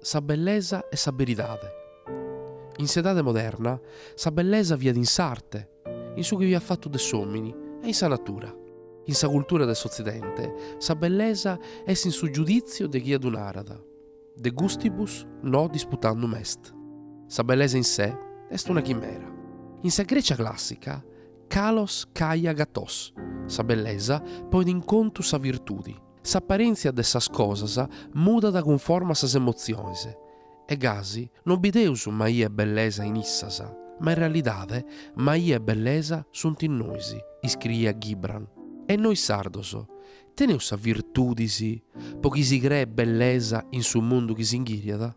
sa bellesa e sa beridade. In s'edade moderna sa bellesa fiat in s'arte, in su chi fiat fatu de s'òmini e in sa natura. In sa cultura de s'Otzidente sa bellesa est in su giudìtziu de chie ddu narat, de gustibus no disputandum est. Sa bellesa in se est una chimera. In sa Grècia clàssica, kalos kai agathos, sa bellesa poit in contu sa virtudi. S'aparèntzia de sas cosas mudat cunforma a sas emotziones, e gasi non bideus maia e bellesa in issas, ma in realidade maia e bellesa sunt in nois, iscriiat Gibran. E nois sardos, teneus sas virtudis po chi si creet bellesa in su mundu chi si inghìriat?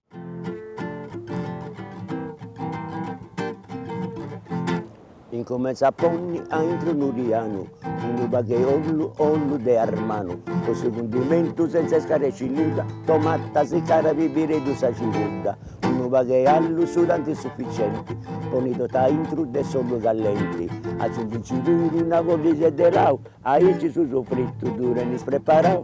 Incumenza a ponni a intru 'e unu tianu, unu pagu 'e ollu, ollu de armanu, po su cundimentu senza iscaresci nudda, tomata sicada, pibireddu, sa cibudda, unu pagu 'e allu su tanti sufficienti, ponni totu a intru de s'ollu callenti, aciungici puru una folla de lau, aici su sofritu ddu tenis preparau.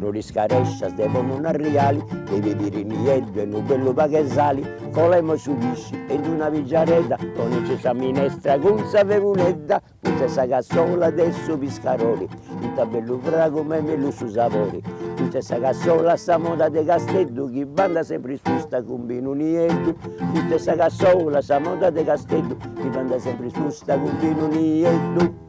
No t'iscarèscias de ponni un arriali de pibiri nieddu e unu bellu pagu 'e sali, colemus su pisci e in una pingiadedda ponenci sa minestra cun sa freguledda, custa est sa cassola de su piscadori, ita bellu fragu ma est mellus su sabori, custa est sa cassola a sa moda de Casteddu chi bandat sempri sciusta cun binu nieddu, custa est sa cassola a sa moda de Casteddu chi b'andat sempri susta cun binu nieddu.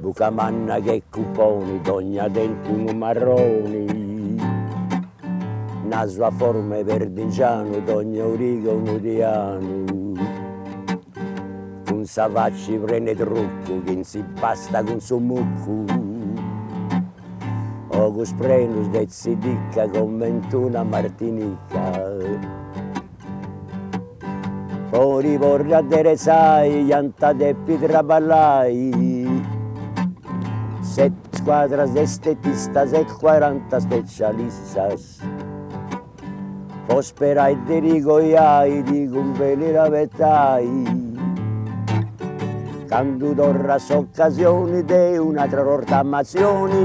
Buca manna che cuponi, dogna denti unu marroni, nasu a forma 'e perdingianu, dogna origa unu tianu, cun sa facci prena 'e truccu, chi s'impastat cun su muccu, ogus prenus de tzidicca, coment'una martinicca Po ddi porri adderetzai iant depi traballai seti scuadras de estetistas e cuaranta specialistas po sperai de ddi coiai ddi cumbenit abetai candu torrat s'ocasioni de un'atra rottamatzioni